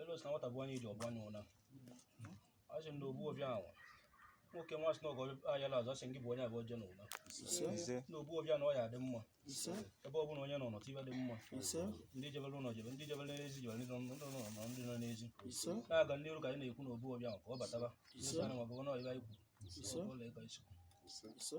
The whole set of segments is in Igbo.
elu si na nwata bụ onye iji ọgbọ n'ụna ọ sị na ogbu obi anwa nwoke nwa sị na ọgọ ayala azụ ọ sị gị bụ onye abụ oje n'ụna ise na ogbu obi anwa ọ ya-adị mma ise ebe ọ bụla onye nọ n'ọtụ ibe dị mma ise ndị jebere ụlọ jebe ndị jebere n'ezi jebere ndị nọ ndị nọ nọ ndị nọ n'ezi ise na-aga n'iru ka anyị na-ekwu na ogbu obi ahụ ka ọ bataba Ise. na ma bụrụ na ọyịba ikwu Ise. ụlọ ịga isi ise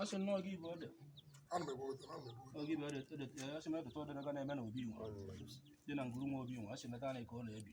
asị nnọọ gị bụ ode oge bụ ode asị m edota ode na-eme na obi nwa dị na nguru nwa obi nwa asị meta na ka ọ na-ebi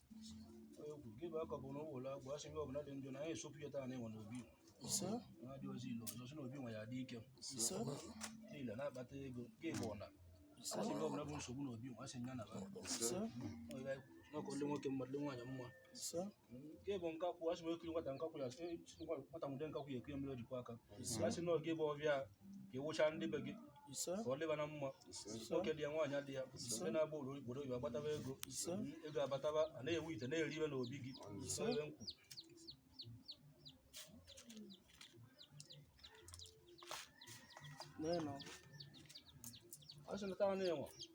egwu gị bụ aka bụ na ụwụlọ agwụ asị ihe ọbụla dị njọ na anyị esopụ ya taa na enwe n'obi na-adị ozi ile ọzọ si n'obi nwe ya dị ike ile na-akpata ego gị bụ ọna asị ihe ọbụla bụ nsogbu n'obi nwe asị ya naba n'ọkụ nwoke mmadụ nwaanyị mma nke bụ nkakwụ asị m ekiri nwata nkakwụ ya nwata nwude nkakwụ ya e kuru mmiri o ji kwọ aka asị na oge bụ ọbịa ka ewụcha ndị be gị ka ọ dịba na mma nwoke dị ya nwaanyị adị ya ndị na-agba obodo oyibo agbataba ego ego abataba a na-ewu ite na-eri ihe n'obi gị ebe m kwuru ọ sị na taa na-enwe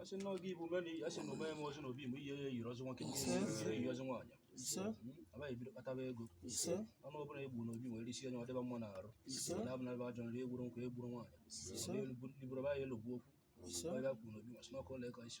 asị na oge ibu mena asị na omee m ozi na obi m ihe ya yiri ọzọ nwoke ihe yiri ọzọ nwaanyị abaghị ebido kpataba ego ọnụ ọbụla egbu na obi nwere isi onye ọ dịba mma n'arụ na abụ na ebe ajọ nri egburu nkwụ egburu nwaanyị iburu ba ya elogbu okwu onye bịa kwuru na obi nwasị n'ọkụ ụlọ ịkọ isi